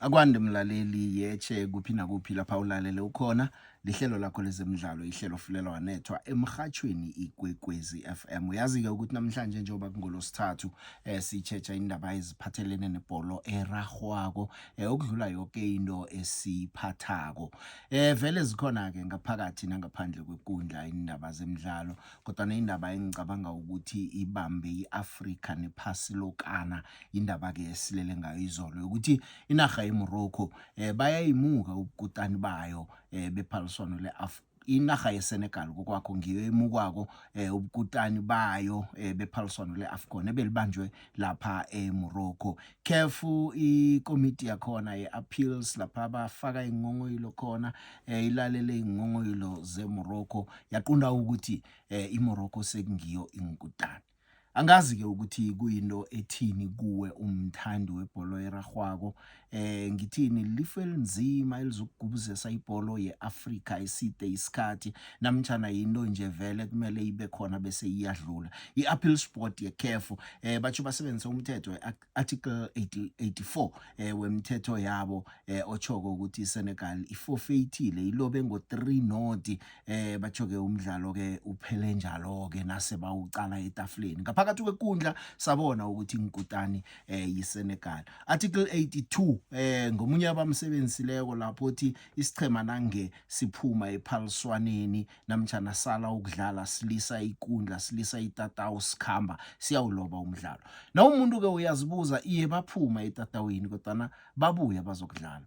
akwande mlaleli yetshe kuphi nakuphi lapha ulalele ukhona lihlelo lakho lezemidlalo ihlelo fulelwa wanethwa emhathweni ikwekwezi FM uyazi-ke ukuthi namhlanje njengoba kungolosithathu eh, sitshetsha indaba eziphathelene nebholo erahwako eh, okudlula yoke into esiphathako eh, vele zikhona-ke ngaphakathi nangaphandle kwekundla indaba zemidlalo kodwana indaba engicabanga ukuthi ibambe i-afrika nephasi lokana indaba-ke esilele ngayo izolo yokuthi inarha yemorocco um eh, bayayimuka ubukutani bayo um bephaliswano le-afrika inarha yesenegal kokwakho ngiyo emukwako um ubukutani bayo um bephaliswano le-afcon ebelibanjwe lapha eMorocco CAF ikomiti yakhona yeappeals lapha bafaka ingongoyilo khona eh, ilalele ingongoyilo zeMorocco yaqunda ukuthi eh, iMorocco sekungiyo inkutani angazi ke ukuthi kuyinto ethini kuwe umthandi webholo erarhwako eh ngithini lifu elinzima elizokugubuzesa ibholo yeAfrika iside isikhathi namtjana yinto nje vele kumele ibe khona bese iyadlula iAppeal Sport yeCAF eh bathu basebenzisa umthetho weArticle 84 eh wemthetho yabo eh ochoko ukuthi iSenegal ifofeyithile ilobe ngo 3 not eh bathu ke umdlalo ke uphele njalo ke nase bawucala etafuleni ngaphakathi kwekundla sabona ukuthi ngikutani eh yiSenegal article 82 eh ngomunye abamsebenzisileko lapho uthi isichema nange siphuma ephaliswaneni namtjana sala ukudlala silisa ikundla silisa itatawu sikhamba siyawuloba umdlalo na umuntu ke uyazibuza iye baphuma etatawini kodwana babuye bazokudlala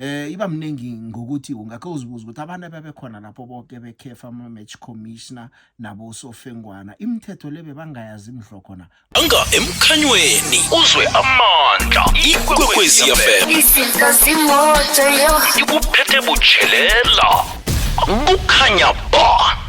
Eh iba mningi ngokuthi ungakho uzibuza ukuthi abantu ababekhona lapho bonke bekhefa ama match commissioner nabo sofengwana imithetho lebe bangayazi imdlo khona anga emkhanyweni uzwe amandla ikwekwezi FM izinto zimoto yo ikuphethe butshelela kukhanya ba